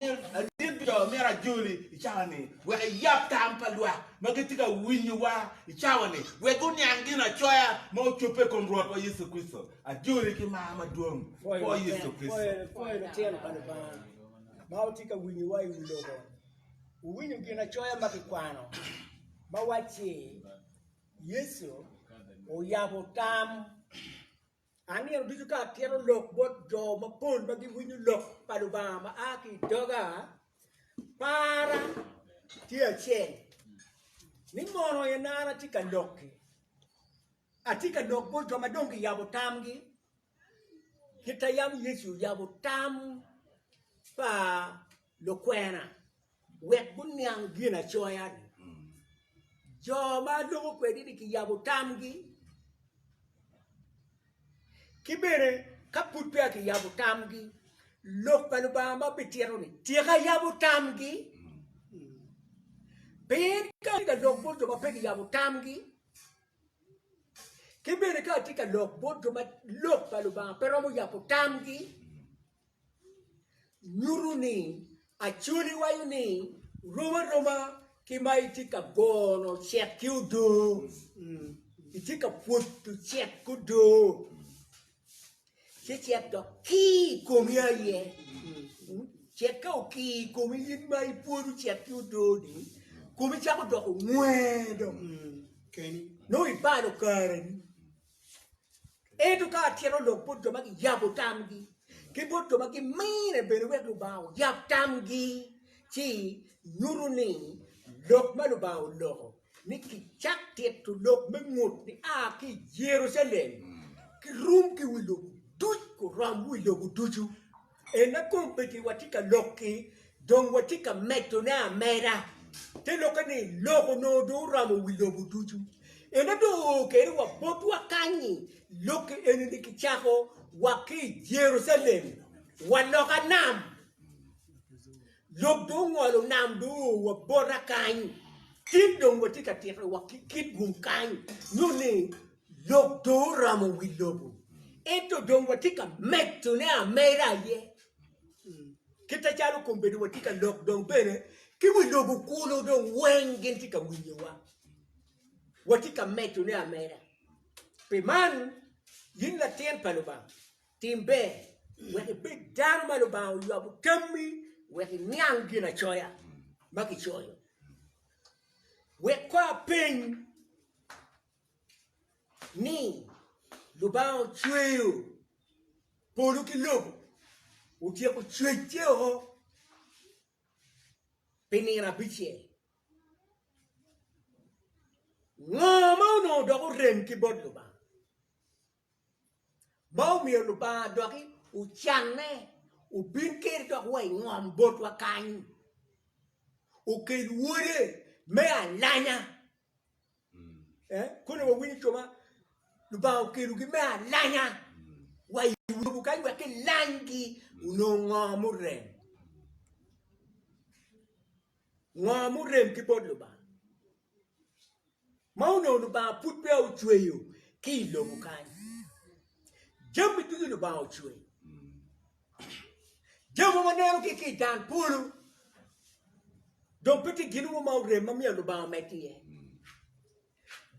Aryeb jo myero ajoli i cawa ni wek ayab tam pa lwak ma gitye ka winyo wa i cawa ni wek guniang gin acoya ma ocobbe i kom Rwot wa Yecu Kricito. Ajoli ki mar madwong bwor Yecu Kricito. Pwoyo lutino pa Lubanga ma wutye ka winyo wa i wi lobo. Wuwinyo gin acoya ma kikwano ma wacci Yecu oyabo tam. An nino ducu ka atito lok bot jo mapol ma giwinyo lok pa Lubanga ma a ki i doga, parra tye acel ni mono en an atye ka lok-ki. Atye ka lok bot jo ma dong giyabo tamgi kit ma yam Yecu oyabo tam pa Lukwena wek guniang Ginacoya-ni, jo ma aloko kwedini kiyabo tamgi, ki bene ka pud peya kiyabo tamgi, Lok pa Lubanga ma bitito ni tika yabo tamgi? Pien ka atye ka lok bot jo ma pe giyabo tamgi, ki bene ka atye ka lok bot jo ma Lok pa Lubanga pe romo yabo tamgi, nyuto ni Acholi waco ni rom aroma ki ma itye ka gono cek ki odoo, itye ka pwodo cek ki odoo ci cek dok kii i komi aye, cek ka okii i komi in ma ipwodo cek ki odoo ni komi cako doko ngwer dong nongo ibalo kareni. Ento ka atyero lok bot jo ma giyabo tamgi, ki bot jo ma gimine bene wek Lubanga oyab tamgi, ci nyuto ni lok ma Lubanga oloko ni kicak tito lok me ngut ni a ki i Jerucalem kirum ki wi lobo duc kurom wi lobo ducu. Ena kong bed ni watye ka lok-ki, dong watye ka medone ameda. Te lokke ni, lok onongo dong oromo wi lobo ducu. Ena dong oo kene wa botwa kany-nyi. Lok-ki eni-ni kicako wa ki i Jerucalem, wa loka nam. Lok dong ongolo nam dong oo wa bota kany. Cen dong watye ka tito wa ki kit gum kany, nyo ni, Lok dong oramo wi lobo, ento dong watye ka medone ameda aye. Kite calo kombedo watye ka lok dong bene ki wi lobo kulu dong weng gin tye ka winyowa. Watye ka medone ameda. Pi man, in latin pa Lubanga, tim ber wek ibed dano ma Lubanga oywabo tammi wek iniang Ginacoya ma kicoyo. Wek kor apeny. ni Lubanga ocweyo polo ki lobo, otyeko cwecce o pi nino abicel. Ngo ma onongo dok orem ki bot Lubanga? ma omiyo Lubanga doki ocanne obin kede dok wa i ngom botwa kany, okel Wode me alanya. Koni wawinyo cuma, Lubanga okelogi me alanya wa i lobo kany wek kilanygi onong ngo murem, ngo murem ki bot Lubanga. ma onongo Lubanga pud peya ocweyo ki i lobo kany. Jami ducu Lubanga ocweyo. Jami ma waneno ki i dan polo dong pe tye gin mo ma orem ma myero Lubanga omed iye.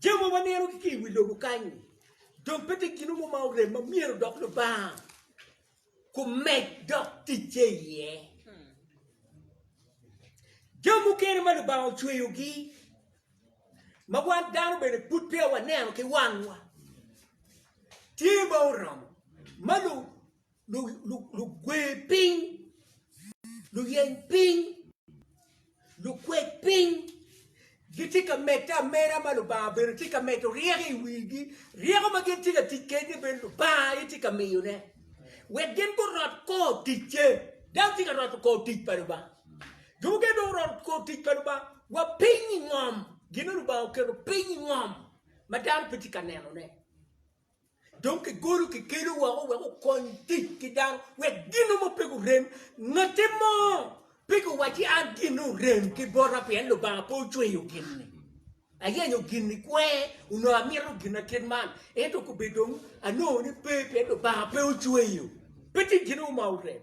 Jami ma waneno ki i wi lobo kany dong pe tye gin mo ma orem ma myero dok Lubanga kumed dok ticce iye. Jo mukene ma Lubanga ocweyogi ma wan dano bene pud peya waneno ki wangwa tye ma oromo ma lugwe piny, luyeny piny. Lukwed piny gitye ka medde ameda ma Lubanga bene tye ka medo ryeko i wigi, ryeko ma gin tye ka tic kwede bene Lubanga aye tye ka miyone, wek gin gurot kor ticce. Dano tye ka roto kor tic pa Lubanga. Jo mukene dong guroto kor tic pa Lubanga wa piny i ngom, gin ma Lubanga oketo piny i ngom ma dano pe tye ka nenone. Dong kigolo kikelu woko wek okony tic ki dano wek gino mo pe gurem. Ngati mo pe giwacci an gin orem ki bota pien Lubanga pe ocweyo gin-ni. Ayenyo gin ni kwer onongo amito gin na kit man ento kobe dong anongo ni pe pien Lubanga pe ocweyo. Pe tye gin mo ma orem.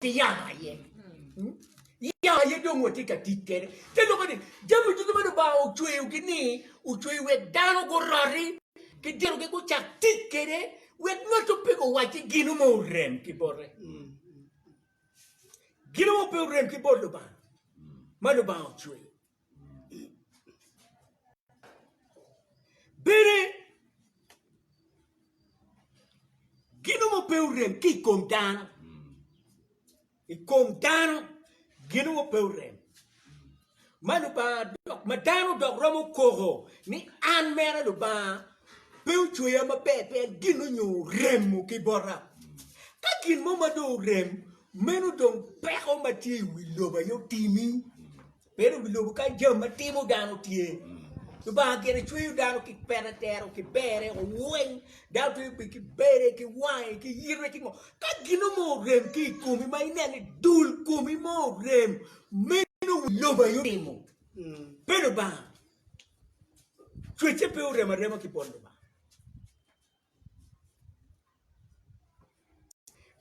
ki yamo aye. Hmm? Yamo aye dong watye ka tic kede. Te loko ni jami duto ma Lubanga ocweyogi ni ocweyo wek dano guroti ki dinogi gucak tic kede wek ngatto pe guwacci gino ma orem ki bote. Hmm. Gino ma pe orem ki bot Lubanga ma Lubanga ocweyo. Bene, gino mo pe orem ki i kom dano, i kom dano gino mo pe orem. Ma Lubanga dok ma dano dok romo koko ni an mere Lubanga pe ocweya maber pien gin onyo oremo ki bota. Ka gin mo ma dong orem meno dong peko ma tye i wi lobo aye otimi. Pien obilubo ka jami ma timo dano tye. Lubanga gire cweyo dano ki pete tero ki bere oweng. Dano twero bedo ki bere ki wange ki yitwe ki ngo. Ka gino mo orem ki i komi ma ineno ni dul komi mo orem meno wi lobo aye otimo. Pe Lubanga cwece pe orem arema ki bot Lubanga.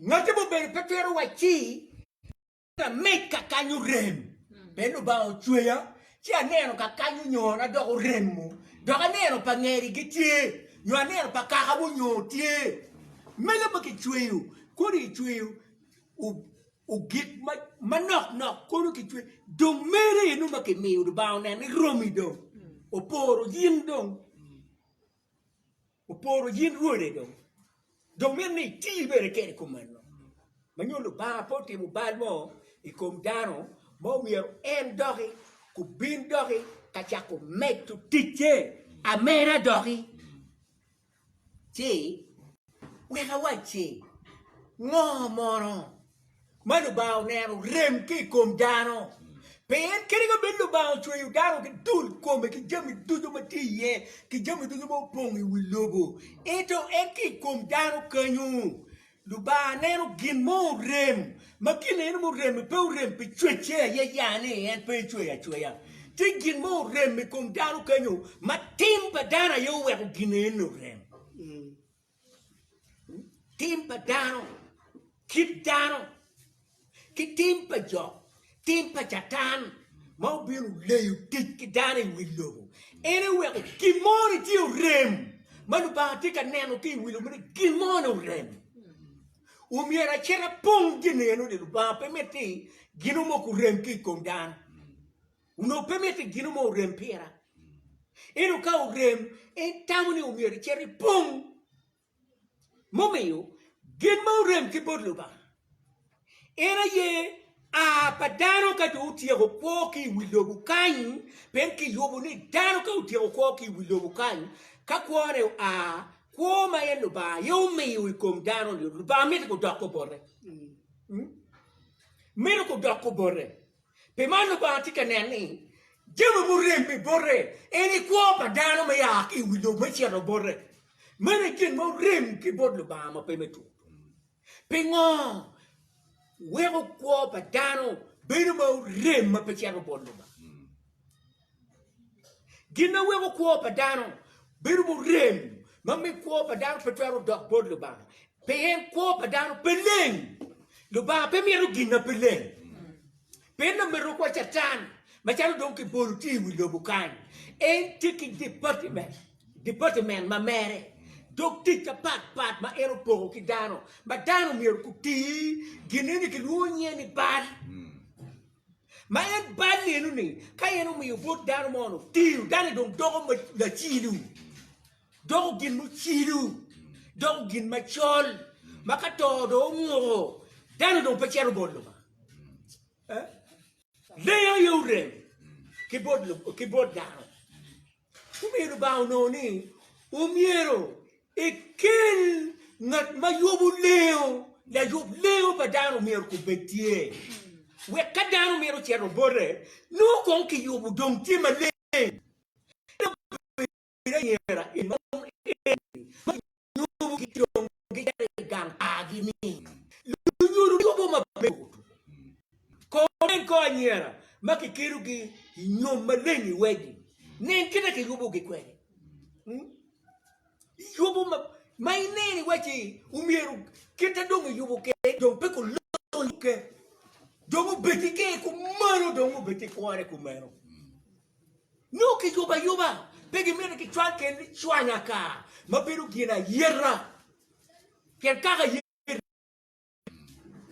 Ngatte mubedo pe twero wacci Lameg kakany orem, pien Lubanga ocweya, ci aneno kakany onyona dok oremo, dok aneno pa ngeri gitye, nyo aneno pa kaka munyoo tye. Mege ma kicweyo, kodi kicweyo gik manok nok kono kicweyo, dong mere eno ma kimiyo Lubanga onene romi dong, oporo in dong. Oporo yin Rwode dong. Dong mito ni iti bene kede kom meno. Ma nyo Lubanga pe otimo bal mo i kom dano ma omyero en doki kubin doki ka cako medo ticce ameda doki. Ci wek awacci ngo mono? ma Lubanga oneno rem ki i kom dano. Pien kadi ka bed Lubanga ocweyo dano ki dul kome ki jami ducu ma tye iye ki jami ducu ma opong i wi lobo, ento en ki i kom dano kenyu Lubanga neno gin mo orem ma gin eno ma orem-mi pe orem pi cwecce aye ya ni en pe ecweyo acweya. Tye gin mo orem i kom dano kenyu ma tim pa dano aye oweko gin eno orem. Tim pa dano, kit dano, ki tim pa jo, tim pa Catan ma obino leyo tic ki dano i wi lobo. En eweko gin mo ni tye orem ma Lubanga tye ka neno ki i wi lobo ni gin mo ni orem. Omyero acita pong gin eno ni Lubanga pe mitte gino mo kurem ki i kom dano. Onongo pe mitte i gino mo orem pira. Ento ka orem, en tamo ni omyero icit ipong. Mumiyo, gin ma orem ki bot Lubanga en aye a pa dano ka dong otyeko kwo ki i wi lobo kany, pien kiyubo ni dano ka otyeko kwo ki i wi lobo kany, ka kwone oa, kwo ma en Lubanga aye omiyo i kom dano-ni, Lubanga mito kudok obote. Mito kudok obote. Pi man Lubanga tye ka nen ni jami murem i bote eni kwo pa dano me a ki i wi lobo me cito bote. Meno aye gin ma orem ki bot Lubanga ma pe me tur. Pingo weko kwo pa dano bedo ma orem ma pe cito bot Lubanga? Gin ma weko kwo pa dano bedo murem ma miyo kwo pa dano pe twero dok bot Lubanga, pien kwo pa dano pe leng. Lubanga pe mito gin ma pe leng. Pien lameto wa Catan macalo dong kibolo tye i wi lobo kany, en tye ki departiment, departiment ma mere, dog tic mapatpat ma en opoko ki dano, ma dano myero guti gin eni kilwongo nyinge ni bal. Ma en bal lelu ni, ka en omiyo bot dano mo no tiyo, dano dong doko lacilu, doko gin mucilu, doko gin macol, ma ka to dong onguko, dano dong pe cito bot Lubanga. Eh? Lengo aye orem ki bot, ki bot dano. Omiyo Lubanga onongo ni omyero ekel ngat ma yubo lengo, layub lengo pa dano omyero kong bed tye, wek ka dano mito cito bote, nongo kong kiyubo dong tye maleng. Ento obedo ayera en ma en ma lunyubo ki dong gicito i gang pargi ni lunyodo dwogo ma pe otum. Kor nen kor anyira ma kikelogi i nyom maleng i wedi. Nen kit ma kiyubogi kwede. Yubo ma ma ineno iwaci omyero kit ma dong iyubo kede dong pe ku loyo kede dong obed ki ker kumeno dong obed ki kwone kumeno. Nongo kiyubo ayuba, pe gimito kicwal kel ni cwanya ka ma bedo gin ayeta. Pien kaka ayeta,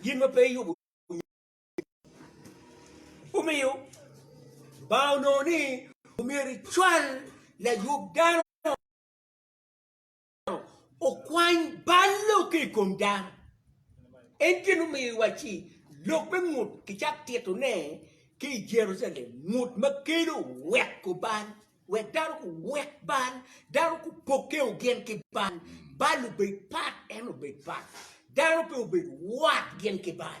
gin ma pe iyubo omiyo Lubanga onongo ni omyero icwal layub dano. okwany bal lok ki i kom dano. En gin omiyo iwaci lok me ngut kicak tito ne ki i Jerusalem ngut ma kelo wek ku bal wek dano ku wek bal dano ku poke ogin ki bal bal obed pat en obed pat dano pe obed wat gin ki bal.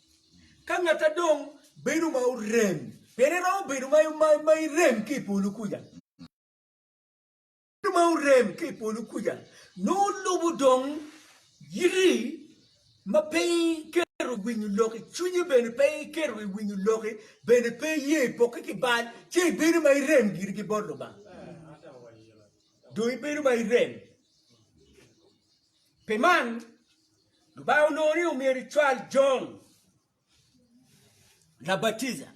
Ka ngat a dong bedo ma orem, pene romo bedo ma irem ki i polo kuca. Bedo ma orem ki i polo kuca nongo lubo dong yiti ma pe iketo i winyo lok i cwinyi, bene pe iketo i winyo loki, bene pe iye i pokke ki bal, ci ibedo ma irem giri ki bot Lubanga. Dong ibedo ma irem. Pi man, Lubanga onongo ni omyero ecwal Jon Labatija,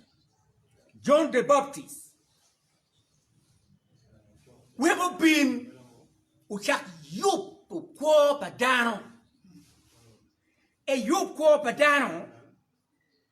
John the Baptist, wek obin ocak yubo kwo pa dano. Eyub kwo pa dano.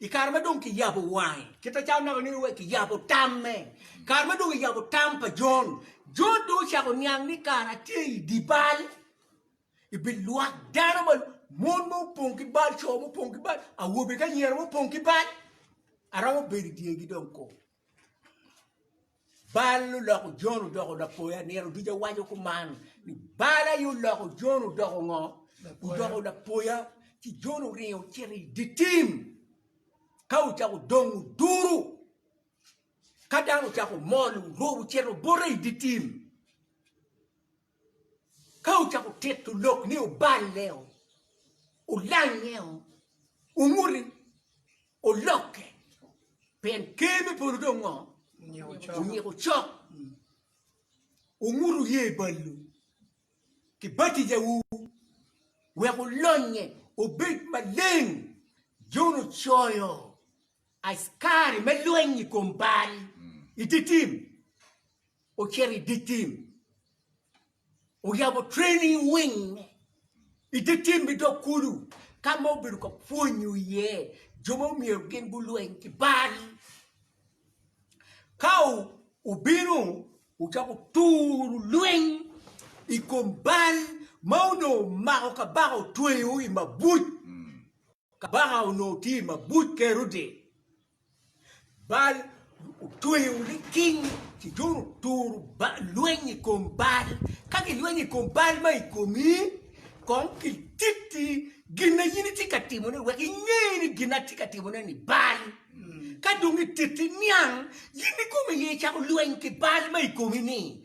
I kare ma dong kiyabo wange, kit acalo naka nino wek kiyabo tamme, kare ma dong kiyabo tam pa Jon, Jon dong ocako niang ni kara tye i dye bal, i bi lwak dano ma mon ma opong ki bal, co ma opong ki bal, awobe ki anyira ma opong ki bal, aromo bedo i dyegi dong kong. Bal oloko Jon odoko lapoya. Nino duca waco kuman ni bal aye oloko Jon odoko ngo? Odoko lapoya. Ci Jon oringo ocito i dye tim ka ocako dong oduro. Ka dano ocako mol orubo ocito bote i dye tim. Ka wucako tito lok ni oballeo, olangeo, onguti, olokke, pien Ker me polo dong ngo? Onyiko cok. Wungutu ye balwu ki batijawu wek olonye obed maleng, Jon ocoyo. Askari me lweny i kom bal i dye tim ocito i dye tim, oyabo training wing i dye tim me dog kulu ka ma obedo ka pwonyo iye jo ma myero gin gulweny ki bal. Ka obino ocako turo lweny i kom bal ma onongo omako kabaka otweyo i mabuc. Kabaka onongo tye i mabuc Kerode, Baal otweyo ni king ci dong oturo lweny i kom Baal. Ka gilwenyo i kom Baal ma i komi, kong kititi gin ma in itye ka timone wek inge ni gin ma atye ka timone-ni Baal. Ka dong gititi niang, in ikomi aye icako lweny ki Baal ma i komi-ni.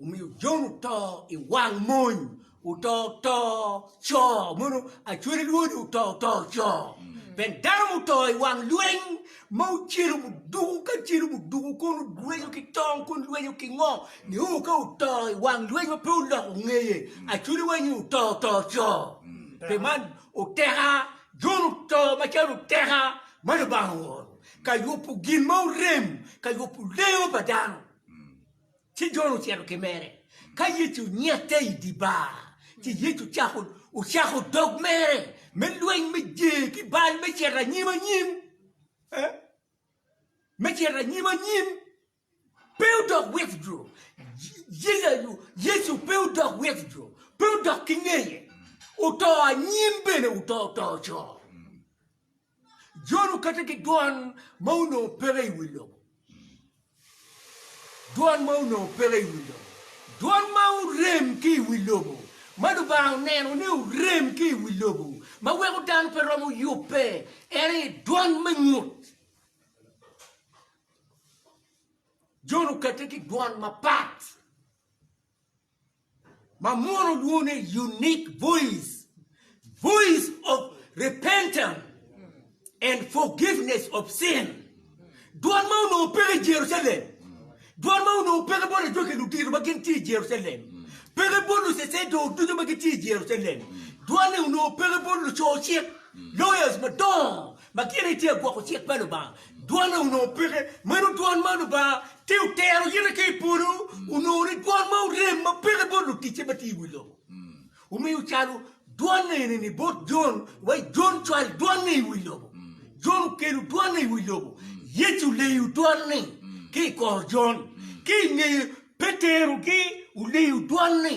Omiyo Jon oto i wang mony, oto oto co, mono acwele lwodi oto oto co. Pien dano muto i wang lweny ma ocelo muduku ka celo muduku kono lwenyo ki tong kono lwenyo ki ngo ni o ka oto i wang lweny ma pe oloko ngeye acwele wanyi oto oto co. Pe man oteka Jon oto macalo oteka ma Lubanga ooro ka yubo gin ma orem ka yubo lengo pa dano. Ci Jon ocito ki mere. Ka Yecu onyette i dye bar, ci Yecu ocako dog mere me lweny me jer ki bal me cito anyim anyim. Me cito anyim anyim. Pe odok withdraw. Yecu pe odok withdraw. Pe odok ki ngeye. Oto anyim bene oto oto coo. Jono kati ki dwan ma onongo peke i wi lobo. Dwan ma onongo peke i wi lobo. Dwan ma orem ki i wi lobo, ma Lubanga oneno ni orem ki i wi lobo, ma weko dano pe romo yubbe, en aye dwan me ngut. Jono kati ki dwan mapat. ma mono lwongo ni unique voice, voice of repentance and forgiveness of sin. Dwan ma onongo peke i Jerucalem, dwan ma onongo peke bot ajwaki ludito ma gin tye i Jerucalem, peke bot lucecedor ducu ma gitye i Jerucalem, dwan-ni onongo peke bot luco cik, lawyers, madongo, Ma gire itye ka gwoko cik pa Lubanga, dwone onongo peke. Meno dwon ma Lubanga tye otero yite ki i polo onongo ni dwon ma orem ma peke bot luticce ma tye i wi lobo. Omiyo calo dwon eni-ni bot Jon, wa i Jon cwal dwon-ni i wi lobo. Jon okelo dwon-ni i wi lobo. Yecu oleyo dwon-ni ki i kor Jon. Ki i ngeye Petero gi oleyo dwon-ni.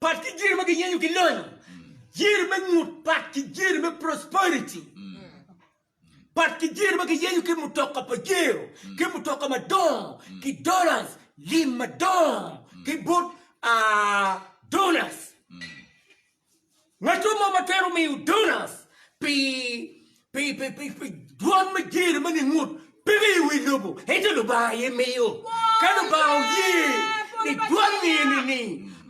Pat ki jiri ma giyenyo ki lonyo, jiri me ngut, pat ki jiri me prosperity, pat ki jiri ma giyenyo ki mutoka pajero, ki mutoka madongo, ki dollars, lim madongo, ki bot uh, donors. Ngato mo ma twero miyo donas pi pi pi pi pi dwan me jer ma gingut pe me i wi lobo, ento Lubanga aye miyo. Ka Lubanga oye ni dwan ni eni ni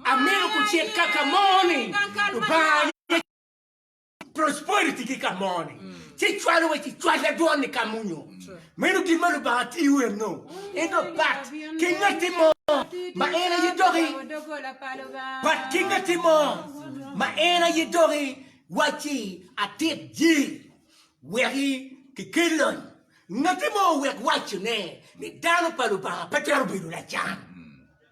amito kucit ka ka mo ni, Lubanga aye prosperity ki ka mo ni ci cwalo wa ci cwal da dwan ni ka munyo. Meno gin ma Lubanga tiyo enno, ento pat ki ngatti mo ma en aye doki, pat ki ngatti mo ma en aye doki wacci atit ji weki ki kel lony. Ngatti mo owek wacci ne ni dano pa Lubanga pe twero bedo lacan.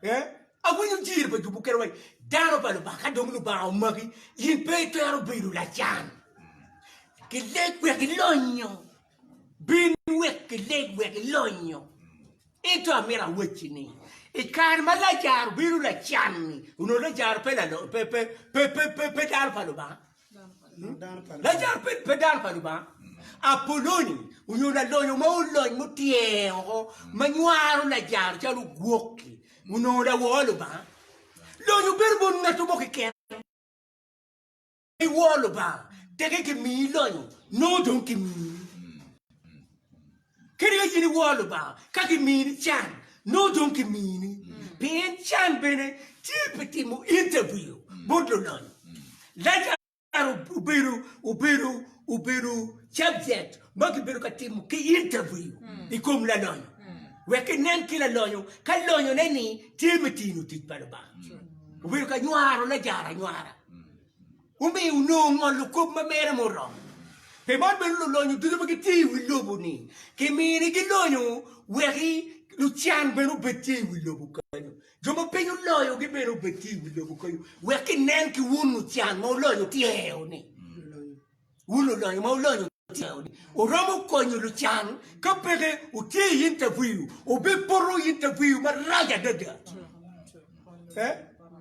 Eh? Awinyo jir pa jubu kene wacci dano pa Lubanga ka dong Lubanga omaki in pe itwero bedo lacan. Ki leg wek ilonyo. Bin wek gileg wek ilonyo. Ento amito awacci ni, i kare ma Lajaro bino lacan-ni, onongo Lajaro pe dano pa Lubanga? Lajaro pe dano pa Lubanga? Apoloni onyo lalonyo mo olony mutyer woko ma nywaro Lajaro calo ogwok-ki, onongo lawor Lubanga? Lonyo bedo bot ngatto mo keken. I wor Lubanga, teke kimiyi lonyo, nongo dong kimiyi. Kadi ka in i wor Lubanga, ka kimini can, nongo dong kimini. Pien can bene tye pi timo interview bot lulonyo. Lajar obedo obedo obedo subject ma kibedo ka timo ki interview i kom lalonyo, wek kinen ki lalonyo ka lonyone-ni tye me tino tic pa Lubanga. Obedo ka nywaro Lajar anywara. Omiyo onongo ngolo kop ma mere muromo. Pi man bene lulonyo ducu ma gitye i wi lobo-ni kiminigi lonyo wek lucan bene obed tye i wi lobo kenyo. Jo ma piny oloyogi bene obed tye i wi lobo kenyo wek kinen ki wun lucan ma wulonyo tye-ni. Wun lulonyo ma wulonyo. Oromo konyo lucan ka peke wutye i interview, wubipoto interview marac adada.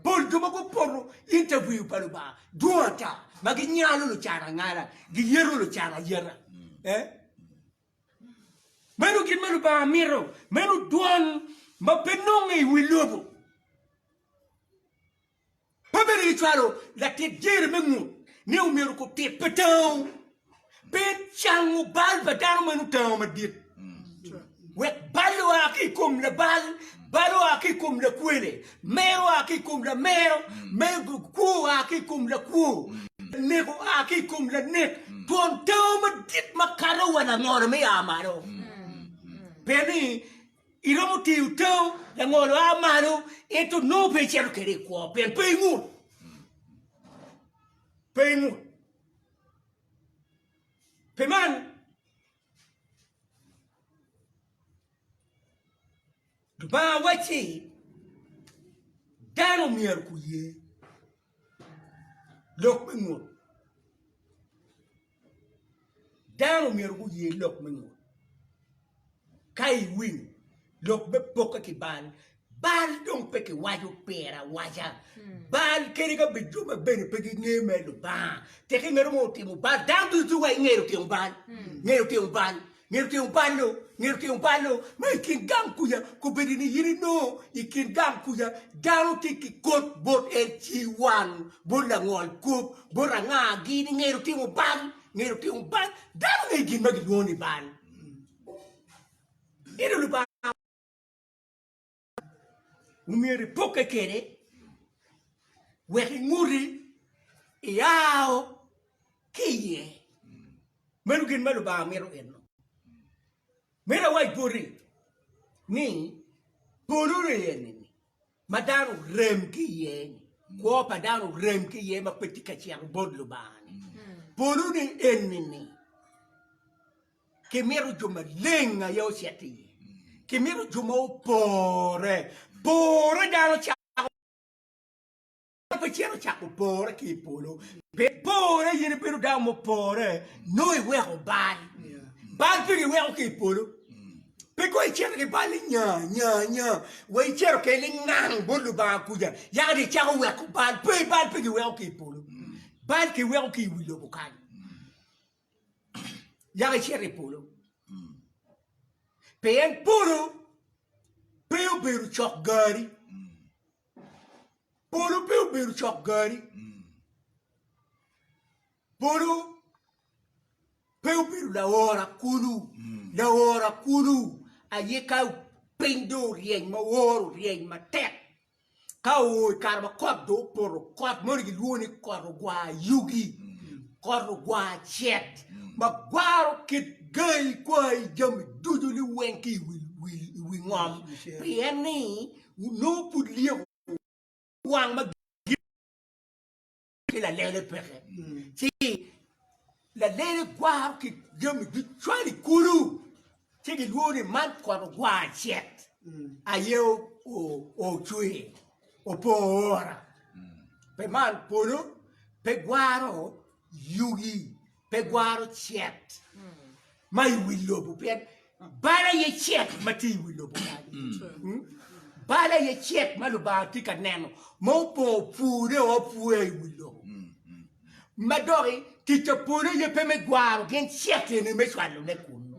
Pol jo ma gupoto interview pa Lubanga dwong ata ma ginyalo lucan angala, giyeto lucan ayeta. Meno gin ma Lubanga mito, meno dwan ma pe nonge i wi lobo. Pe bedo ni cwalo latit dyere me ngut ne omyero okub tit pa tango pe cango bal pa dano ma nongo tango madit, wek bal oa ki i kom labal, bal oa ki i kom lakwele, mer oa ki i kom lamero, kwo oa ki i kom lakwo, lanek oa ki i kom lanek, twon tango madit makato wa langolo me a malo. Pien ni. Iromo teyo tau langolo a malo, ento nongo pe icito kwede i kwo, pien pe ingut. Pe ingut. Pi man, Lubanga wacci dano myero guye lok me ngut. Dano myero guye lok me Munu. Ka iwinyo lok me pokke ki bal, bal dong pe kiwaco pire awaca. Bal kadi ka bed jo ma bene pe ginge mere Lubanga, tek ingeto mo otimo bal, dano ducu wa ingeto otimo bal, ngeto otimo bal. Ngeto tyeng balo, ngeto tyeng balo ma i kin gang kuca kobedo ni in inongo i kin gang kuca dano tye ki kot bot en ci wan bot langol kop bot anga gi ni ngeto timo bal, ngeto timo bal dano ngeyo gin ma gilwongo ni bal. omyero ipokke kwede wek inguti iao ki iye. Meno gin ma Lubanga mito enno. Meno awac boti ni polo rye-ni ma dano orem ki iye-ni, kwo pa dano orem ki iye ma pe tye ka cito bot Lubanga-ni, polone enini Kimito jo maleng aye ocit i iye. Kimito jo ma opore. Pore dano cako Dano pe cito cako pore ki i polo. Pe pore in ibedo dano mupore nongo iweko bal. Bal pe giweko ki i polo. Pe kong icito ki bal ni nya nya nya wa icito kene lingang bot Lubanga kuca yaka dong icako weko bal. Pe bal pe giweko ki i polo. Bal kiweko ki i wi lobo kany. yako icito i polo. Pien polo pe obedo cok gari. Polo pe obedo cok gari. Polo pe obedo laora kulu. Laora kulu aye ka piny do oryeny ma oro oryeny matek. Ka oo i kare ma kot dong opoto, kot moni gilwongo ni kot ogwar yugi, kot ogwar cet ma gwaro kit gai kwai jami ducu ni weng ki i wi ngom pien ni nongo pud lyeko wang ma ki lalele peke, ci lalele gwaro ki jami ducwal i kulu, ci gilwongo ni man kot ogwar cet aye ocwe opo ora, pi man polo pe gwaro yugi. pe gwaro cet ma i wi lobo pien bal aye cet ma tye i wi lobo mm. bal aye cet ma lubanga tye ka neno ma opong pure o pure i wi lobo mm, mm. ma doki tic pa polo aye pe me gwaro gin cet eni me cwalone kunu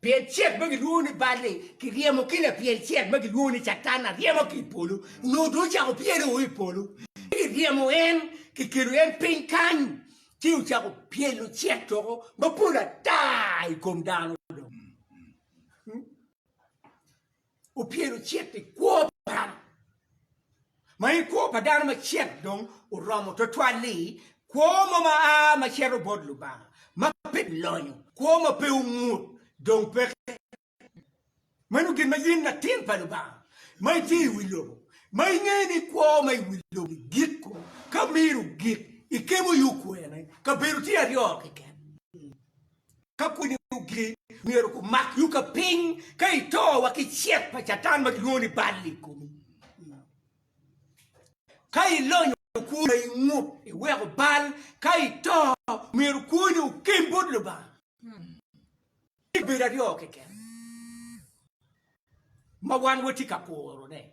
Pyel cet ma gilwongo ni bal-li kiryemo ki lapyel cet ma gilwongo ni Catan aryema ki i polo, nyo dong ocako pyelo o i polo. Ci kiryemo en, kikelo en piny kany, ci ocako pyelo cet doko mapol ata i kom dano dong. opyelo cit i kwo pa dano, ma en kwo pa dano ma cit dong oromo twatwal-li, kwo mo ma a ma cito bot Lubanga, ma pe lonyo, kwo ma pe ongut, dong peke. Meno gin ma in latin pa Lubanga ma itye i wi lobo, ma inge ni kwo ma i wi lobo-ni giko ka miro gik, ikemo yo kwene, kabedo tye aryo keken. Ka pwonyo gigi, myero gumak yuka piny ka ito wa ki cet pa Catan ma kilwongo ni bal i komi. Ka ilonyo kwoni ma ingut, iweko bal, ka ito, myero kwoni okem bot Lubanga. Tye kabedo aryo keken ma wan watye ka kurone.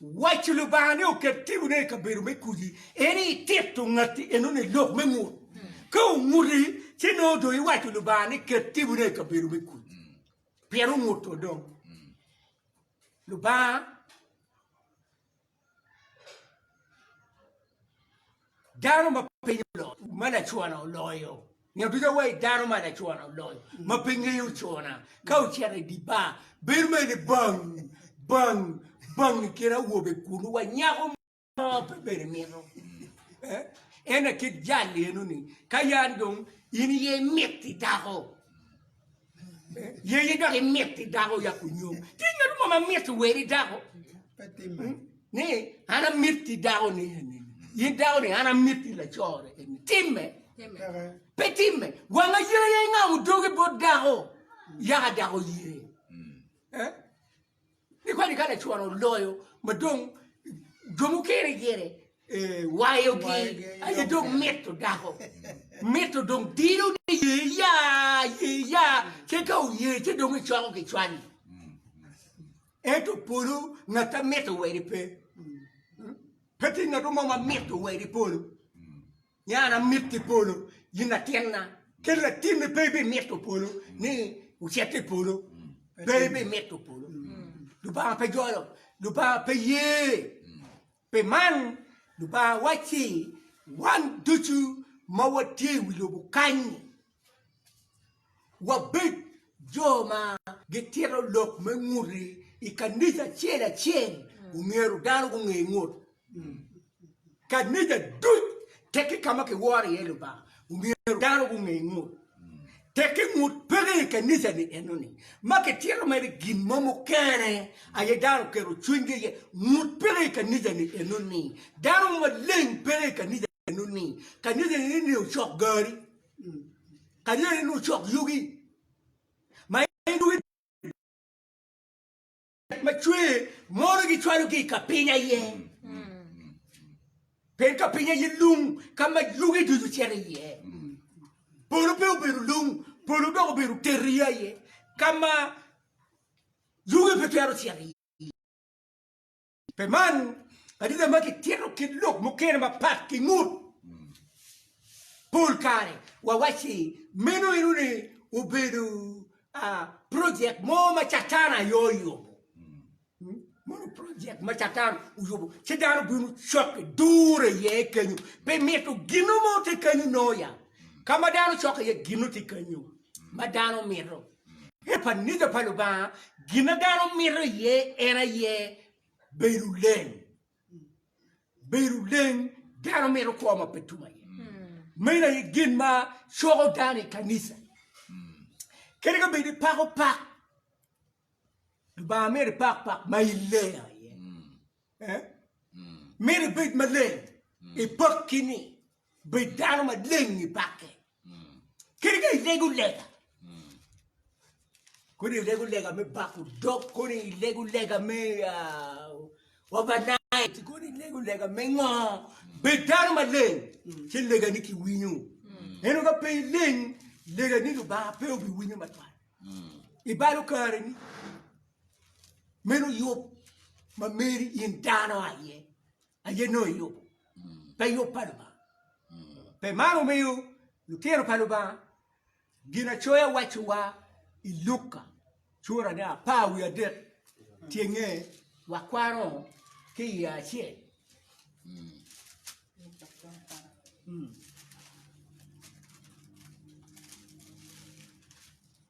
Waco Lubanga ni oket timone i kabedo me kudi en i tito ngatti enoni i lok me ngut. Ka onguti, ci nongo dong iwaco Lubanga ni ket timone i kabedo me kudi. Pien onguto dong. Lubanga Dano ma piny oloyo, ma lacona oloyo. Nyo ducu awayi dano ma lacona oloyo, ma pe ngeyo ocona, ka ocito i di bar, bedo mere ni bang, bang, bang i kin awobe kulu wa nyako mo pe bene mito. Eh? En akit jal eno ni, ka yan dong in iye imiti dako, Yeye dok imit ni dako oyak onyom. Tye ngat mo ma mit weri dako? Hmm? Ni an amit ki dako ni eni. In dako ni an amit ki lacore eni. Timme. Pe timme. Wanga yeye ingamo dogi bot dako. Yaka dako yeye. Eh? Ni kadi ka lacwaro oloyo ma dong jo mukene gire wayogi aye dong mito dako mito dong dilo ni ye ya ye ya ce ka oye ce dong icoko ki cwali ento polo ngat amito weri pe pe tye ngat mo ma mito weri polo Nya an amito i polo, in latinna, kadi latinni pe ibimito polo ni wucit i polo, pe ibimito polo. Lubanga pe jolo, Lubanga pe ye. Pi man, Lubanga wacci wan ducu ma watye i wi lobo kany-ni, wabed jo ma gitito lok me ngute i kanica acel acel omyero dano gunge ngut kanica duc teki ka ma kiworo iye lubanga omyero dano gunge ngut teki ngut peke i kanica ni enoni ma kitito mere gin mo mukene aye dano oketo cwinygi iye ngut peke i kanica ni enoni dano maleng peke i kanica meno ni ka nyonya nini ni ocok gari ka nyonya nini ocok yugi ma yugi ma cwer mono gicwalo ki ka piny aye pien ka piny aye lung ka ma yugi ducu cito iye polo pe obedo lung polo dok obedo terri aye ka ma yugi pe twero cito iye Pi man, adita ma kitito kit lok mukene mapat ki ngut, pol kare wawacci meno eno ni obedo projek mo ma Catan aye oyubo. Mono projek ma Catan oyubo ci dano bino cokke dure iye kenyo, pi mito ginno mo tye kenyo noya, ka ma dano cokke iye ginno tye kenyo ma dano mito. I kaniga pa Lubanga, gin ma dano mito iye en aye bedo leng. Bedo leng, dano mito kwo ma pe tum aye. Meno aye gin ma coko dano i kanisa. Kadi ka bedi pako pak, Lubanga mito ipak pak ma ileng aye. Myero ibed maleng, ipakki ni, Bed dano maleng i pakke. Kadi ka ilego lega, kodi ilego lega me bako dog, kodi ilego lega me overnight, kodi ilego lega me ngo, bed dano maleng ci legani kiwinyo. Ento ka pe ileng, legani Lubanga pe obiwinyo matwal. I balo kareni. meno yub ma meri in dano aye aye nongo iyubo pe yub pa Lubanga pe man omiyo lutino pa Lubanga Ginacoya wacciwa i Luka curane apar wiye adek tyenge wakwano ki iye acel.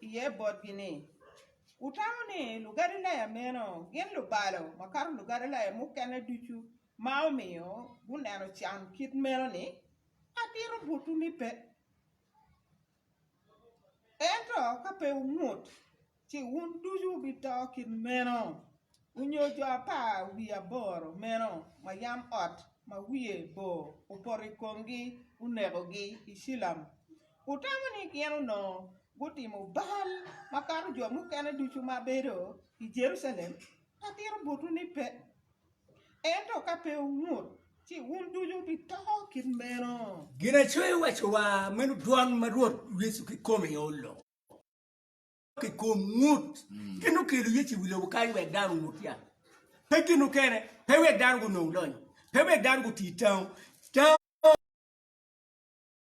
iye botgi ni, Wutamo ni Lugalilaya meno gin lubalo makato Lugalilaya mukene ducu ma omiyo guneno can kit meno-ni? Atito botwu ni pe. Ento ka pe wungut, ci wun ducu wubito kit meno. Onyo jo apar wiye aboro meno ma yam ot ma wiye bor opoto i komgi onekogi i Cilam? Wutamo ni gin onongo gutimo bal makato jo mukene ducu ma bedo i Jerucalem? Atito botwu ni pe! Ento ka pe wungut, ci wun ducu wubito kit meno. Ginacweyo owaco wa, meno dwan ma Rwot Yecu kikome olo. ki kom ngut gin okelo Yecu i wi lobo kany wek dano ongut ya. Pe gin okene, pe wek dano gunong lony, pe wek dano guti tango. Tango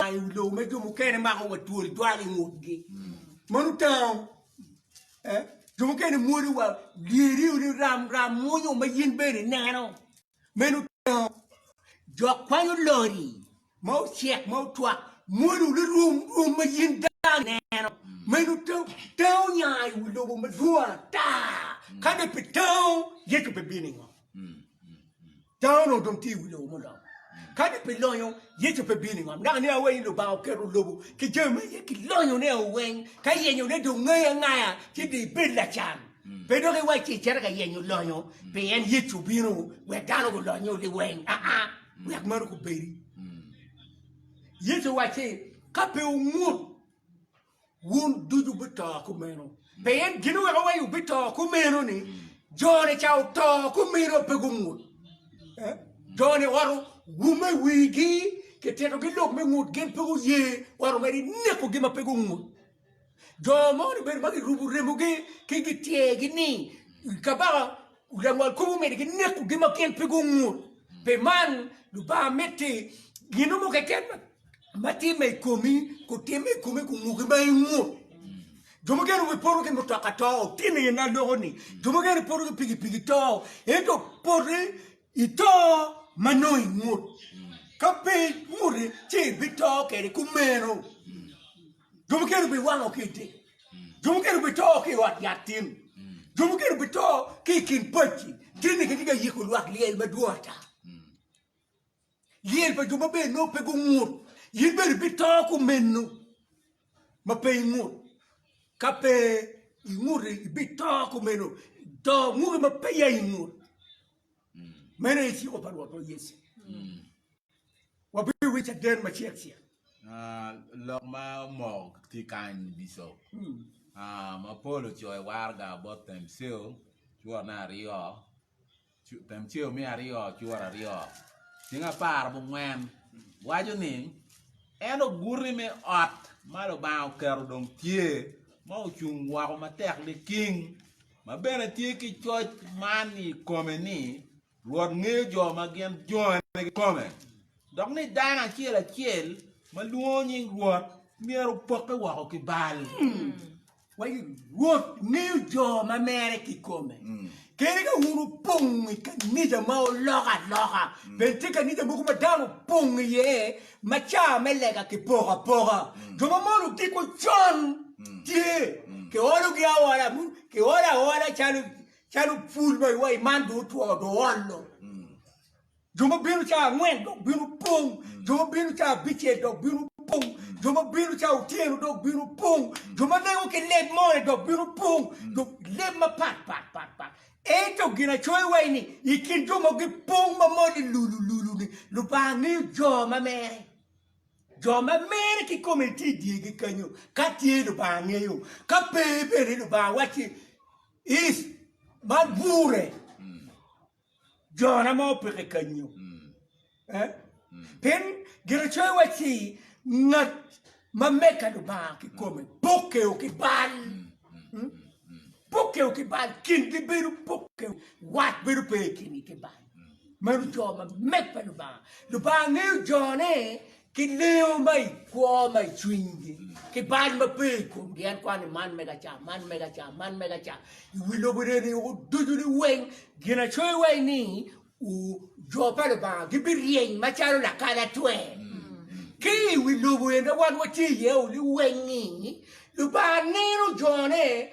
i wi lobo me jo mukene mako wa twol dwal i ngutgi. Mano tango. Eh, jo mukene mwodi wa lyeri ni ram ram munyo ma yin bene ineno. Me nuteno, jo kwanyo lori ma ocek ma otwak mwolo lirum rwom ma in dano ineno. Me nuteno, tango onya i wi lobo madwong ata. Ka dong pe tango, Yecu pe bino ingo. Tango onongo dong tye i wi lobo mulony. Ka dong pe lonyo, Yecu pe bino ingo. Dok nia weny Lubanga oketo lobo ki jami ma iye ki lonyone weny ka yenyone dong ngaye angaya ci dong ibed lacan. Pe dok iwacci icito ka yenyo lonyo, pien Yecu obino wek dano gulonyo liweng, aa, wek meno gubedi. Yecu owacci, Ka pe wungut, wun ducu wubi-to kumeno. Pien gin oweko wa ni wubi-to kumeno ni, jo-ni ca oto kumeno pe gungut. Jo-ni owato wume wigi, kitito-gi lok me ngut, gin pe guye, owato mere ineko-gi ma pe gungut. Jo mogo ni bedo ma girubo remogi ki gityegi ni kabaka langwal kop omyero ginekogi ma gin pe gungut. Pi man Lubanga miti gino mo keken ma timme i komi kutimme i komi kunguki ma ingut. Jo mukene wi poto ki mutoka to tye nino na loko-ni jo mukene poto ki pikipiki to ento poti ito ma nongo ingut ka pe inguti ci ibito kwede kumeno. Jo mukene obiwango ki i te, jo mukene obito ki i ot yat tin, jo mukene obito ki i kin pacci. Tinni kitye ka yiko lwak lyel madwong ata. Lyel pa jo maber nongo pe gungut. In bene ibito kumeno ma pe ingut. Ka pe inguto ibito kumeno do nguki ma pe ya ingut. Meno aye ciko pa Rwotwa Yecu. Wabiwinyo caden macel cel. Lok ma omoko tye kany i Bicop ma pol ocoyo waraga bot Themceo cworne aryo, Themceo me aryo cwor aryo. Ceng apar bungwen waco ni, En oguti me ot ma Lubanga oketo dong tye, ma ocung woko matek liking, ma bene tye ki coc man i kome ni, Rwot ngeyo jo ma gin jongene kikome, dok ni dano acel acel ma lwongo nying Rwot myero opokke woko ki bal. Wa Rwot ngeyo jo ma mere kikome. Kadi ka wun wupong i kanija ma oloko aloka, bene tye kanija mogo ma dano opong iye ma ca me lega kipoko apoka. Jo ma mono odiko con tye, kiologi aola, kiolo aola calo Calo pul ma iwa i man dong otwo, dong oolo. Jo ma bino ca angwen dok bino pong, jo ma bino ca abicel dok bino pong, jo ma bino ca otyeno dok bino pong, jo ma lengo ki leb more dok bino pong, dok leb mapat pat pat pat. Ento ginacoya iwa ni, i kin jo ma gipong ma moli lulu lulu-ni, Lubanga ngeyo jo ma mere. Jo ma mere kikome gitye i dyegi kenyo, ka tye Lubanga ngeyo, ka pe bene Lubanga wacci, Is, ma gure jona ma opeke kanyo, pien Giracoyo wacci, Ngat ma meka Lubanga kikome pokeo ki bal, pokeo ki bal, kingi bedo pokeo, wat bedo pe i kingi ki bal. Meno jo ma meka Lubanga. Lubanga ngeyo jone ki leyo ma i kwo ma i cwinygi, ki bal ma pe i komgi, en kwano ni man mega ca, man mega ca, man mega ca, i wi lobo neni oko ducu ni weng, ginacoyo wa ni u, jo pa Lubanga gibiryeny macalo lakalatwe, ki i wi lobo en ma wan watye iye-ni weng-ngi, Lubanga neno jone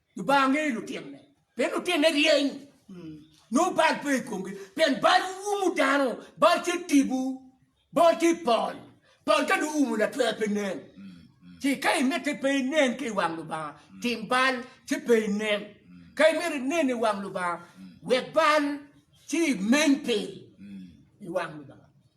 Lubanga ngeyo lutinone, pien lutinone ryeny, nongo bal pe i komgi, pien bal umu dano, bal tye tipo, bal tye pol, pol ka dong oumo latwer pe nen. Ci ka imite pe inen ki i wang Lubanga, tim bal ci pe inen. Ka imito inen i wang Lubanga, wek bal ci imeny piny i wang Lubanga.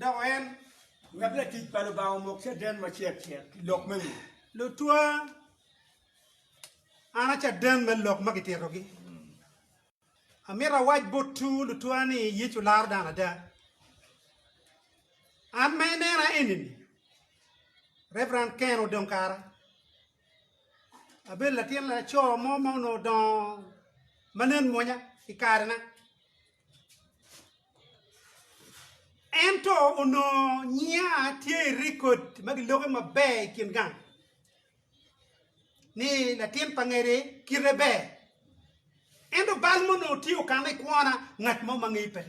Dok en, wek latic pa Lubanga omok caden macek cek ki lok me ngom. Lutwa, an a caden me lok ma kititogi. Amito awac botwu lutwa ni Yecu laro dano ada. An ma inena enini, Reverend Ken odong kara. Abedo latin laco mo ma onongo odongo ma nen mwonya i karena. Ento onongo nyinga tye i rekod ma giloke maber i kin gang ni latin pa ngede kite ber. Ento bal ma onongo tye okanne i kwona ngat mo ma ngeyo pe.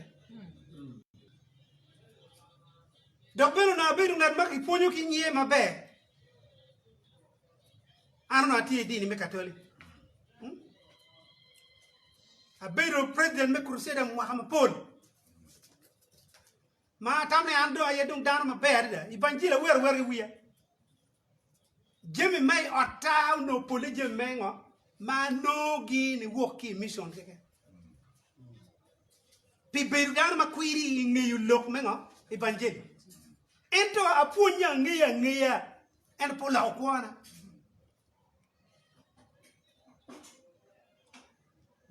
Dok bene onongo abedo ngat ma kipwonyo ki nge maber. An onongo atye i dini me Katolic. Hmm? Abedo president me Crusader mwaka mapol. Ma atam ni an dong aye dong dano maber adada. Ibanjil awero awera ki wiya. Jami ma i otta onongo pole jami me ngo ma anongogi ni wok ki i mission keken. Pi bedo dano ma kwiri i ngeyo lok me ngo? Ibanjil. Ento apwonya angeya angeya En pe oloko kwona.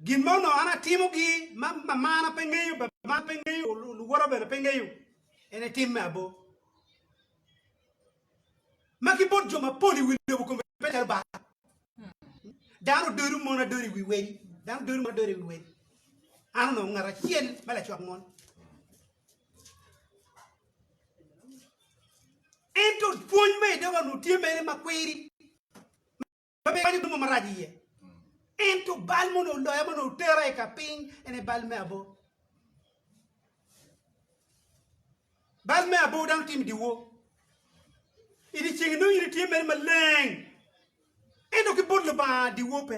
Gin ma onongo an atimogi ma mamana pe ngeyo, babana pe ngeyo, luwota bene pe ngeyo, en etim me abo. Ma ki bot jo mapol i wi lobo kome pe calo bal. Dano dodo mon adodo i wi wedi. Dano dodo mon adodo i wi wedi. An onongo ngat acel ma lacwak mon. Ento pwony ma idogo onongo tye mere ma kwiri, ma pe iwanyo gin mo marac iye. Ento bal ma onongo oloya, ma onongo otera i ka piny, en aye bal me abor. Bal me abor dano timo i dyewor. I dye ceng inongo in itye mere maleng, ento ki bot Lubanga dyewor pe.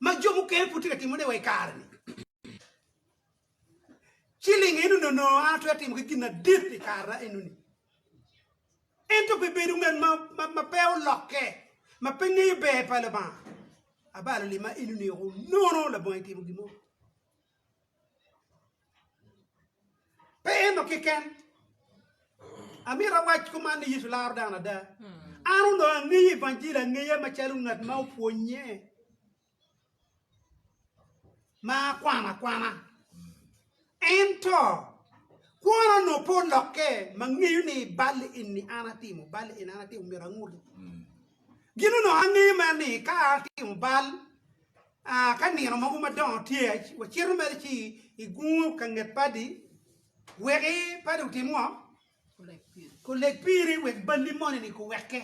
ma jo mukene pud tye ka timone wa i kare-ni. Ci linge eno nono, an atwero timo ki gin madit pi kara enoni. Ento pi bedo ngat ma pe olokke, ma pe ngeyo ber pa Lubanga, abalo lima enoni woko nono labongo itimo gin mo. Pe eno keken. Amito awac kuman ni Yecu laro dano ada. An onongo angeyo Evanjili angeya macalo ngat ma opwonnye ma akwano akwana. Ento kwona onongo pe olokke ma ngeyo ni bal eni an atimo, bal eni an atimo myero anguti. Gin onongo angeyo mere ni ka atimo bal A Ka nino mogo madongo tye, wacito mere ci i gungo ka nget padi. Weki padi otim ngo? Kuleg piri wek balli moni-ni kuwekke.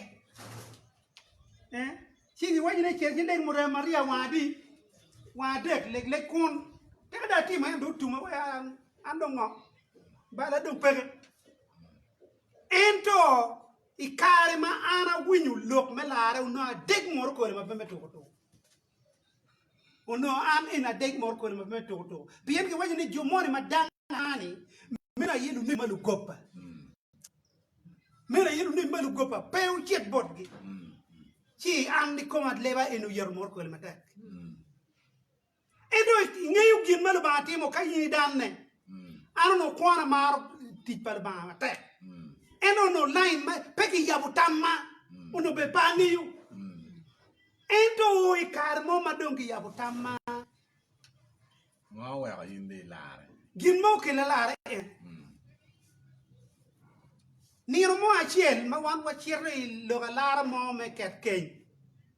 Eh? Ci giwaco ni cer ki leg murem ariya wang adi? Wang adek, leg leg kun. Tika dong atimo en dong otume wek an, an dong ngo? Balla dong peke. Ento. I kare ma an awinyo lok me larre onongo adeg moro kole ma pe me tuko tuko. Onongo an en adeg moro kole ma pe me tuko tuko. Pien giwaco ni jo moni ma dang ani meno aye lunemi ma lugoppa. Meno aye lunemi ma lugoppa pe ocit botgi. Ci an kikoma leba en oyeto moro kole matek. Ento ingeyo gin ma Lubanga timo ka in idanne? An onongo kwon amaro tic pa Lubanga matek. Ento onongo lain ma pe kiyabo tamma onongo bene pe angeyo. Ento i kare mo ma dong kiyabo tamma, Ngo oweko in dong ilarre? gin ma okelo alarre en nino mo acel ma wan wacito i lok alara mo me ket keny.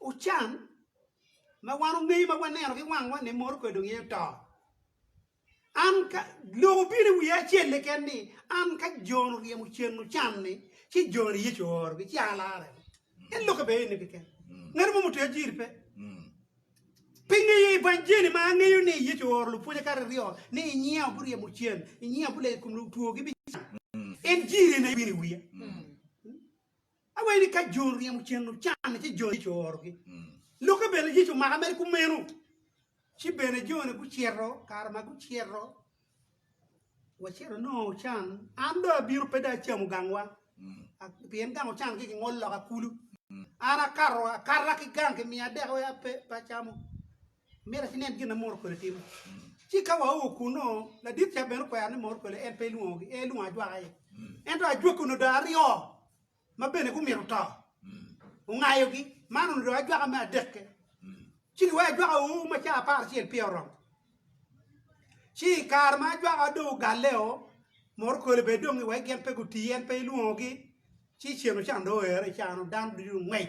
Ucan ma wan ongeyo ma waneno ki wangwa ni moro kwede donge oto. An ka lok obino i wiya acel keken ni an ka Jon oryemo cen ocan ni ci Jon ni Yecu oorogi ci an alarre. En lokke bene eno keken. Ngat mo mutweyo jiri pe. Pi ngeyo evanjeli ma angeyo ni Yecu ooro lupwonye kare aryo ni i nyinga guryemo cen, i nyinga guleyo i kom lutwo gibicango. En jiri eno aye bino i wiya. Awee ni ka jo ryemo cen ocanne ci jo Yecu oorogi. Lokke bene Yecu omaka mere kumeno. Ci bene jone gucito, kare ma gucito, wacito nongo ocan, an dong abino pe dong acamo gangwa, a- pien gang ocan ki kingolo loka kulu. An akato akata ki gang kimiya dek wek ape pe acamo. Myero ci nen gin ma moro kole timo. Ci ka wao kunnu, ladit ca bene okwero ni moro kole en pe elwongogi, en elwongo ajwaka aye. Ento ajwaka onongo dong aryo ma bene gumito to, ongayogi. Man onongo dong ajwaka me adekke. Ci giweko ajwaka ur ma caa apar acel peya oromo. Ci i kare ma ajwaka dong ogalleo, moro kole bene dong iwek gin pe guti, en pe elwongogi. Ci cen ocan dong oero i caa-nu, dano ducu dong ongwec.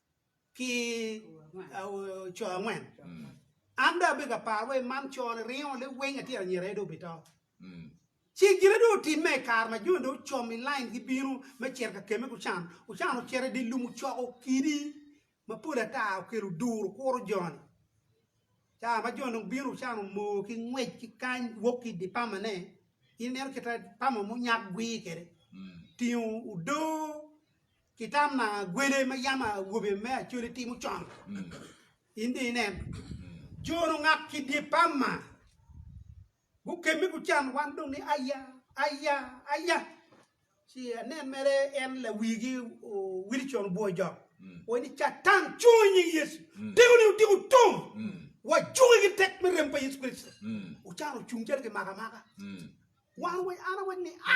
ki co angwen an dong abedo ka paro wai man co ni ringo liwiny atyeno anyira aye dong obito ci gine dong otimme i kare ma joni dong ocom i lain gi bino me cito ka kemme gucan ocan ocito i di lum ocoko kidi ma pol ata okelo duru kuro joni ca ma joni dong bino ocan omoo ki ngwec ki kany wok ki di pama ne in ineno kita pama munyak gwir kede tingo odoo ki tam ma agwele ma yam awobe me Acholi timo con. In dong inen, jono ngak ki dye pam ma gukemme gucan wan dong ni aya, aya, aya. Ci anen mere en lawigi Wilson Bwojok owaco ni Catan cung i nying Yecu, teko ni otiko tung, wacunge ki tek me rem pa Yecu Kricito. Ocan ocung calo kimako amaka. Wan an awaco ni a!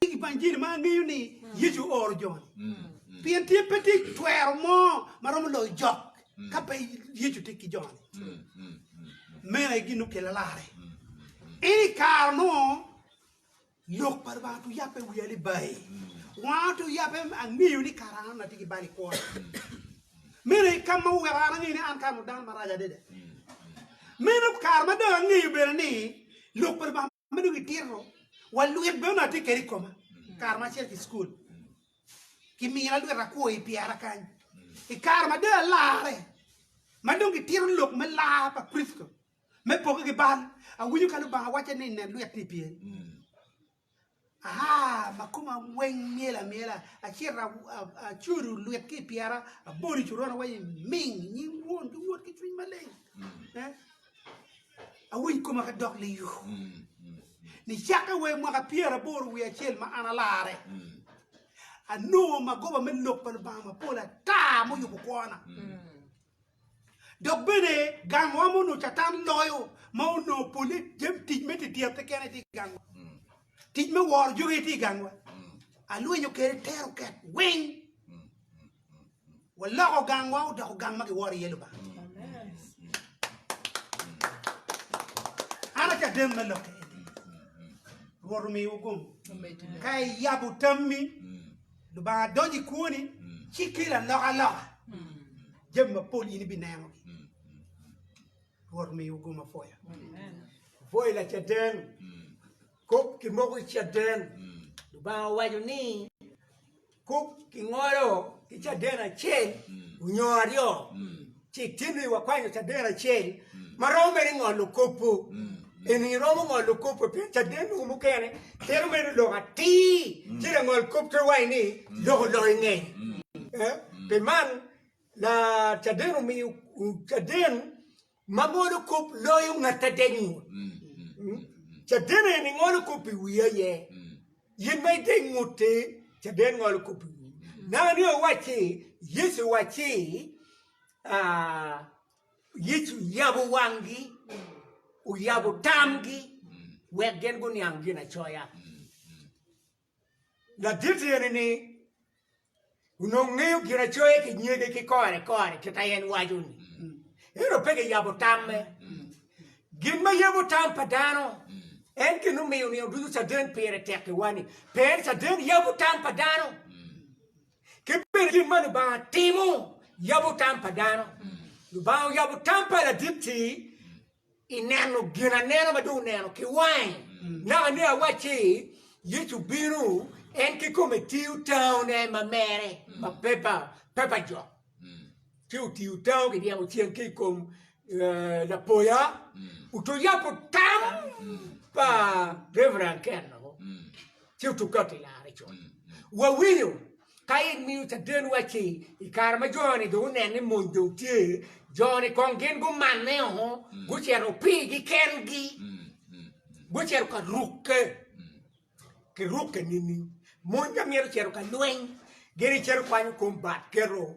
Tic pa injili ma angeyo ni Yecu ooro jo-ni, pien tye pe tye cwero mo ma romo loyo jok ka pe Yecu tye ki jo-ni. Meno aye gin nokelle larre. Ento i kare nongo lok pa Lubanga otye oyabbe i wiya ni bayi. Wanga otye oyabbe ni angeyo ni kara an atye ki bal i kwona. Meno aye ka ma oweko an angeyo ni an kara-nu dano marac adada. Meno kare ma dong angeyo bene ni lok pa Lubanga. ma dong itito wa lwit bene onongo atye kede i koma kare ma acel ki cukul kimina lwit akwo i pyera kany i kare ma dong alarre ma dong gitito lok me lar pa Kricito me poke ki bal awinyo ka Lubanga wacce ni nen lwit-ti i pyeri Aa ma koma weng myel amyela, acito acudu lwit ki i pyera, abolo i coron awaco ni, Ming! I nying Won ki Wod ki Cwiny Maleng. Awiny koma ka dok liyo. Nicakke wa i mwaka pyeraboro wiye acel ma an alarre, anongo magoba me Lok pa Lubanga mapol ata muyubo kwona. Dok bene gangwa ma onongo Catan loyo ma onongo polle jami tic me dyedyatte kene tye i gangwa. Tic me woro jo aye tye i gangwa. Alwenyo kwede tero ket weng. Waloko gangwa odoko gang ma kiworo iye Lubanga. An acaden me lokke eni. Rwot omiwa gomo. Ka iyabo tammi. Lubanga donyo i kwoni ci kelo alokaloka, jami mapol in ibinenogi. Rwot omiwu go mapwoya. Pwoyo Lacaden, kop ki moko i caden. Lubanga owaco ni kop ki ngolo ki caden acel nyo aryo. Ci itimi wakwanyo caden acel ma romo mere i ngolo kopo. Eni iromo ngolo kopo pien caden mogo mukene twero medo lok atir, ci langol kop twero waco ni lok olonyo ngeye. Pi man, la caden omiyo caden ma ngolo kop loyo ngat adek ngut. Caden eni ngolo kop i wi aye. In ma itye ngute, caden ngolo kop-pi. Nanga ni owacci, Yecu owacci, Yecu oyabo wanggi, oyabo tamgi wek gin guniang ginacoya. Ladit eni ni Onongo ngeyo Ginacoya ki nyege ki kore kore kit a en waco ni, ento pe giyabo tamme. Gin ma yabo tam pa dano en gin omiyo nino ducu caden pire tek i wani. Pien caden yabo tam pa dano, ki bene gin ma Lubanga timo yabo tam pa dano. Lubanga oyabo tam pa ladit-ti I neno gin anena ma dong oneno ki wange, naka ni awacci, Yecu bino, en kikome tiyo tango ne ma mere, ma pepa, pepa jok. Ci otiyo tango ki dyemo ceng ki i kom eh, lapoya, oto yabo tam pa Reverend Ken-o, ci otuka ki lare col. Wawinyo Ka in miyo caden wacci i kare ma jo-ni dong oneno ni mony dong tye, jo-ni kong gin gumanne o, gucito pigi kengi, gucito ka rukke ki rukke nining? Mony ka myero ocito ka lweny, gin gicito kwanyo kom bat keto.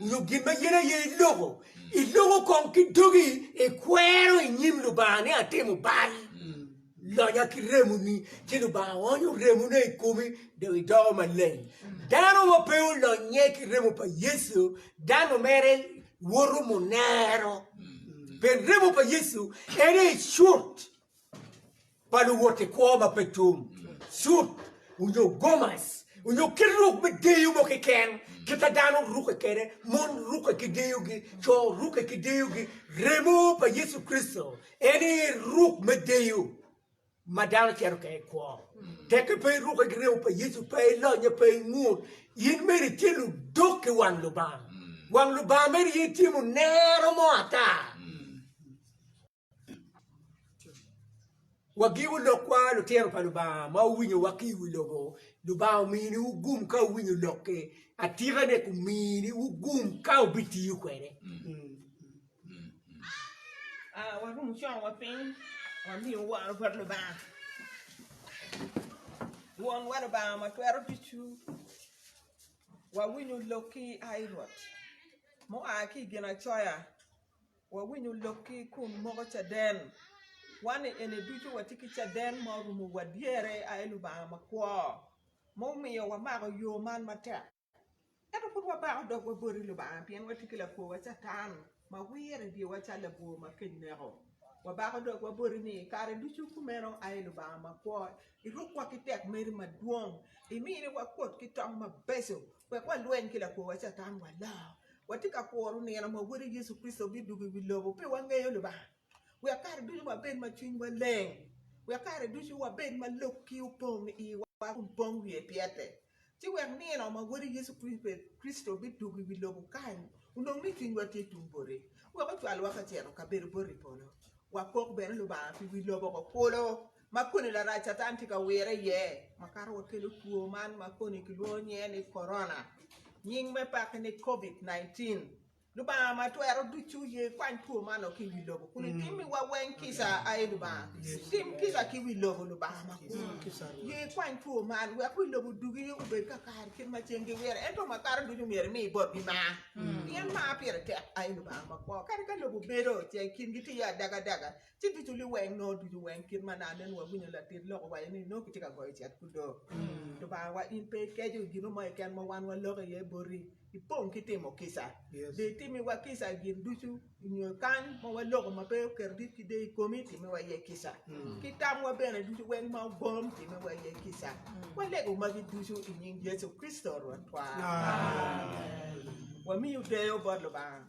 nyo gin ma in aye iloko, iloko kong ki dogi ikwero i nyim Lubanga ni atimo bal. Lonya ki remoni, ci Lubanga onyo remone i komi dong idoko maleng. Dano ma pe olonye ki remo pa Yecu, dano mere woto munero. Pi remo pa Yecu en aye cut. pa luwot i kwo ma pe tum, cut, onyo gomas, onyo kit ruk me deyo mo keken, kita dano ruke kede, mon ruke ki deyogi, co ruke ki deyogi, remo pa Yecu Kricito en aye ruk me deyo ma dano cito kede i kwo. Tekke pe iruke ki remo pa Yecu, pe ilonye, pe ingut, in mere itye ludok ki wang Lubanga, wang Lubanga mere aye tye munero mo ata. Wagiwu lokwa lutino pa Lubanga ma wuwinyowa ki i wi lobo, Lubanga omini wu gum ka wuwinyo lokke, atikane kumini wu gum ka wubitiyo kwede. Wawinyo lokki kun moko caden. Wan i eni ducu watye ki caden ma orumo wa dyere a i Lubanga makwo, ma omiyo wamako yo man matek. Ento pud wabako dogwa boti Lubanga pien watye ki lakwowa Catan ma wire i dyewa calo labwor ma kec neko. Wabako dogwa boti ni kare ducu kumeno aye Lubanga makwo, irukwa ki tekmeri madwong, iminiwa kwot ki tong mabeco Wek walweny ki lakworwa Catan waloo. Watye ka kuro nino ma Wode Yecu Kricito bidwogo i wi lobo pi wangeyo Lubanga, wek kare ducu wabed ma cwinywa leng, wek kare ducu wabed ma lokki opong i iwa kun pong wiye pyete, ci wek nino ma Wode Yecu Kricito bidwogo i wi lobo kany onong ni cwinywa tye tung bote, wek ocwalwa ka cito ka bedo bot i polo, wakok bene Lubanga pi wi lobo kulu. ma koni larac Catan tye ka wire iye ma kato wa kelo two man ma koni kilwongo nyinge ni korona, nying me peke ni Covid 19. Lubanga ma twero ducu ye ikwany two man o ki i wi lobo kun itimiwa weng kica, ai Lubanga. Tim kica ki wi lobo Lubanga makun. Ye ikwany two man wek wi lobo dugi obed kakare kit ma cen giwire ento ma kato ducu myero imi botgi mar, pien mar pire tek, ai Lubanga makwo. Kadi ka lobo bedo ce kingi tiyo adagadaga, ci ducu liweng nongo ducu weng kit ma nano nongo wawinyo latit lok owaco ni nongo kitye ka goyo cet kudo Lubangawa in pe ikeco gino mo keken ma wan waloko iye boti ipong ki timo kica dong itimiwa kica gin ducu nyo kany ma waloko ma pe oketo dit ki deyo i komi timiwa iye kica ki tamwa bene ducu weng ma ogom timiwa iye kica walego magi ducu i nying Yecu Kricito Rwotwa Amen. Wamiyo deyo bot Lubanga.